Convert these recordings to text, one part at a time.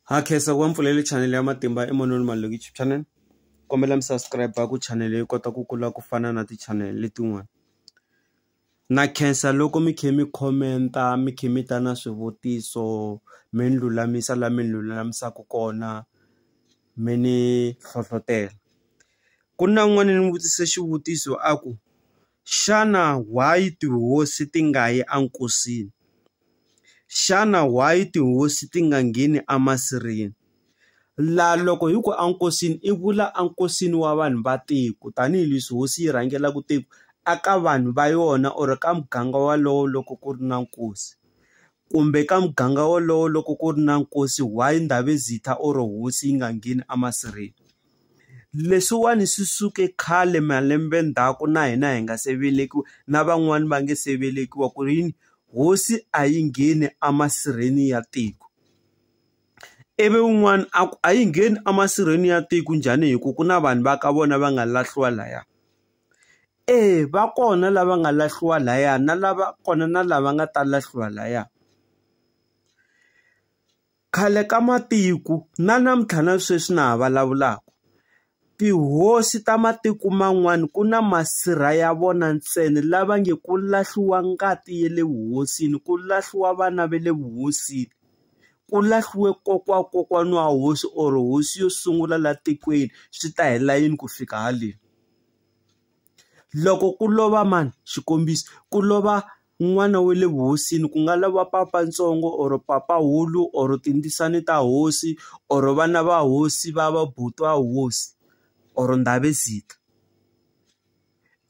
ha khensa ku va mpfulele chanele ya matimba emanoni maloko youtube channel kombela mi subscribe ku chanele yi kota ku kula ku fana na ti-channel letin'wana na khensa loko mi khe mi khomenta mi khe mi ta na swivutiso mi ni lulamisa la mi ni lulamisaka kona mi ni hlohlotela ku na n'wana ni n'wi vutise xivutiso a ku Xana why tihosi ti nga yi a nkosini? Xana why tihosi ti nga ngheni a masirheni? La loko hi ku a nkosini i vula a nkosini wa vanhu va tiko tanihileswi hosi yi rhangelaka tiko a ka vanhu va yona or ka muganga walowo loko ku ri na nkosi. Kumbe ka muganga wolowo loko ku ri na nkosi why Ndabezitha or hosi yi nga ngheni emasirheni? Leswiwani swi suke khale malembe ndzhaku na hina hi nga se velekiwa na van'wani va nge se velekiwa ku ri yini hosi a yi ngheni emasirheni ya tiko. Ivi un'wana a ku a yi ngheni emasirheni ya tiko njhani hi ku ku na vanhu va ka vona va nga lahliwa laya. Eya va kona lava nga lahliwa laya na lava kona na lava nga ta lahliwa laya. Khale ka matiko na namuntlha na sweswi na ha vulavulaka, tihosi ta matiko man'wana ku na masirha ya vona ntsena lava nge ku lahliwa ngati ya le vuhosini, ku lahliwa vana va le vuhosini, ku lahliwe kokwana wa kokwana wa hosi or hosi yo sungula laha tikweni, swi ta hela yini ku fika haleni? Loko ku lova mani? Xikombiso, ku lova n'wana wa le vuhosini ku nga lova papa ntsongo or papa hulu or tindzisana ta hosi or vana va hosi va va buti wa hosi or ndhavezitha.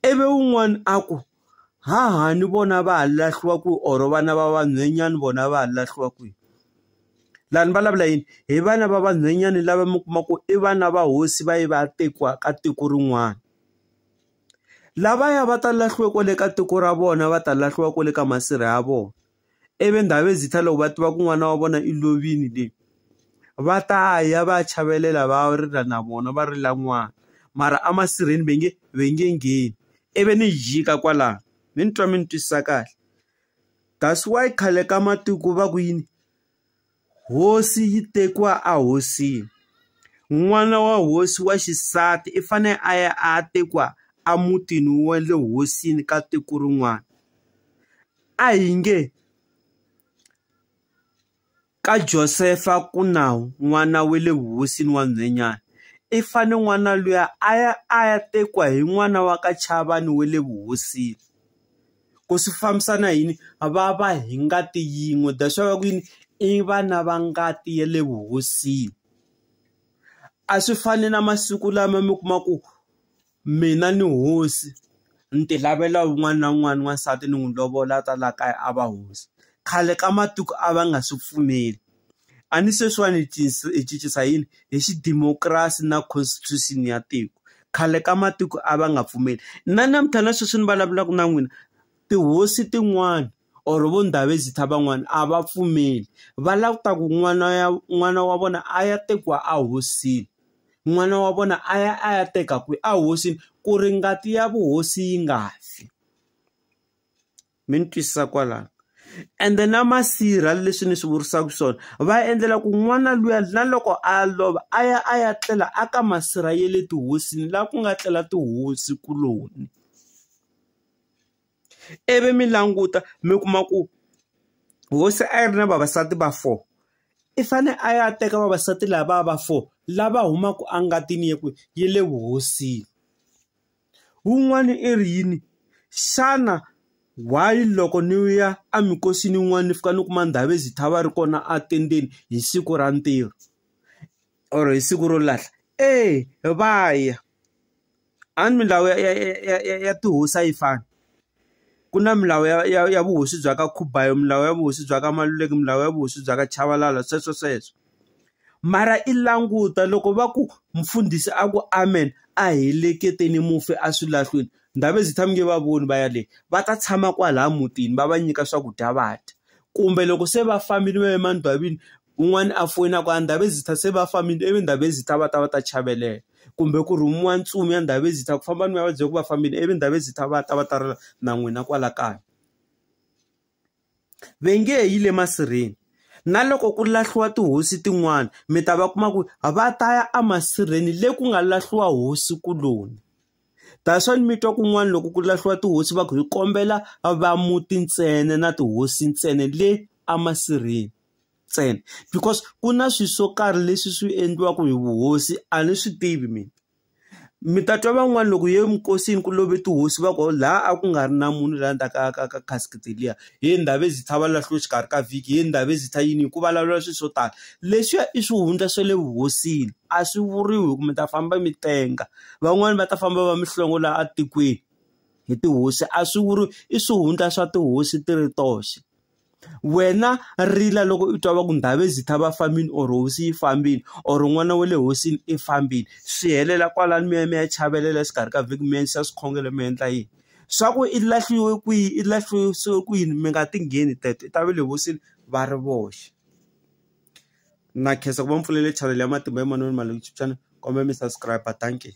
Ivi un'wana a ku, hahani vona va ha lahliwa kwihi or vana va vanhwenyani vona va ha lahliwa kwihi laha ni vulavula yini hi vana va vanhwenyani lava mi kuma ku i vana va hosi va ye va ya tekiwa ka tiko rin'wana lavaya va ta lahliwe kwale ka tiko ra vona va ta lahliwa kwale ka masirha ya vona. ivi Ndhavezitha loko va tiva ku n'wana wa vona i lovile le va ta ya va ya chavelela va rila na vona va rila n'wana mara emasirheni va nge va nge ngheni ivi ni jika kwalano mi ni twa mi ni twisisa kahle that's why khale ka matiko va ku yini. Hosi yi tekiwa a hosini n'wana wa hosi wa xisati i fane a ya a ya tekiwa a mutini wa le hosini ka tiko rin'wana a hi nge ka Josefa ku na n'wana wa le vuhosini wa nhwenyana i fane n'wana luya a ya a ya tekiwa hi n'wana wa ka Chavani wa le vuhosini. ku swi fambisa na yini va va hi ngati yin'we that's why va ku yini i vana va ngati ya le vuhosini a swi fani na masiku lama mi kuma ku mina ni hosi ni ti lavela wun'wana na wun'wana n'wansati ni n'wi lovola a ta la kaya a va hosi khale ka matiko a va nga swi pfumeli. A ni sweswiwani hi hi cincisa yini? Hi xidimokirasi na constitution ya tiko. Khale ka matiko a va nga pfumeli. Na namuntlha na sweswi ni vulavulaka na n'wina, tihosi tin'wana or vo Ndabezitha van'wana a va pfumeli. Va lava ku ta ku n'wana ya n'wana wa vona a ya tekiwa ehosini, n'wana wa vona a ya a ya teka kwihi? Ehosini. Ku ri ngati ya vuhosi yi nga fi. mi ni twisisa kwalano ende na masirha leswi ni swi vurisaka swona va endlela ku n'wana luya na loko a lova a ya a ya tlela a ka masirha ya le tihosini laha ku nga tlela tihosi kuloni ivi mi languta mi kuma ku hosi a yi ri na vavasati va four i fane a ya teka vavasati lava va four lava humaka engatini ya ku yi le vuhosini Wun'wana i ri yini? Xana why loko ni ya eminkosini yin'wana ni fika ni kuma Ndhavezithava a ri kona a tendeni hi siku ra ntirho or hi siku ro lahla? Eya va ya a ni milawu ya ya ya ya ya tihosi a yi fani. Ku na milawu ya ya ya vuhosi bya ka Khubayo milawu ya vuhosi bya ka Maluleke milawu ya vuhosi bya ka Chabalala sweswo sweswo mara i languta loko va ku mfundhisi a ku amen a heleketeni mufi a swi lahlweni Ndhavezitha tshami nge va voni va yaleyo va ta tshama kwalaya mutini va va nyika swakudya va dya kumbe loko se va fambile va ye emandwavini Un'wana a foyina ku a Ndabezitha se va fambile ivi Ndabezitha va ta va ta chavelela kumbe ku rhumiwa ntsumi ya Ndabezitha ku famba ni ya va byela ku va fambile ivi Ndabezitha va ta va ta rila na n'wina kwala kaya ve nge yi le masirheni na loko ku lahliwa tihosi tin'wana mi ta va kuma ku va ta ya emasirheni le ku nga lahliwa hosi kuloni that's why ni mi twa kun'wana loko ku lahliwa tihosi va ku hi kombela va muti ntsena na tihosi ntsena le emasirheni ntsena because ku na swilo swo karhi leswi swi endliwaka hi vuhosi a ni swi tivi mina mi ta twa van'wani loko hi ye minkosini ku love tihosi va ku laha a ku nga ri na munhu laha ndzhaku ka ka ka casket liya he Ndhavezitha va lahliwe exikarhi ka vhiki he Ndhavezitha yini hi ku vulavuriwa swilo swo tala leswiya i swihundla swa le vuhosini a swi vuriwi hi ku mi ta famba mi tenga van'wani va ta famba va mihlongo laha a tikweni hi tihosi a swi vuriwi i swihundla swa tihosi ti ri toxe. wena rila loko u twa va ku ndhawu ezitha va fambini or hosi yi fambini or n'wana wa le hosini i fambini swi helela kwalano mi ya mi ya chavelela exikarhi ka vhiki mi endlisa swikhongelo mi endla yini swa ku i lahliwe kwihi i lahlise ku yini mi nga ti ngheni teto i ta ve le hosini va ri voxe na khensa ku va mpfulele channel ya matimba emanoni ma YouTube channel kombela mi subscribe dankie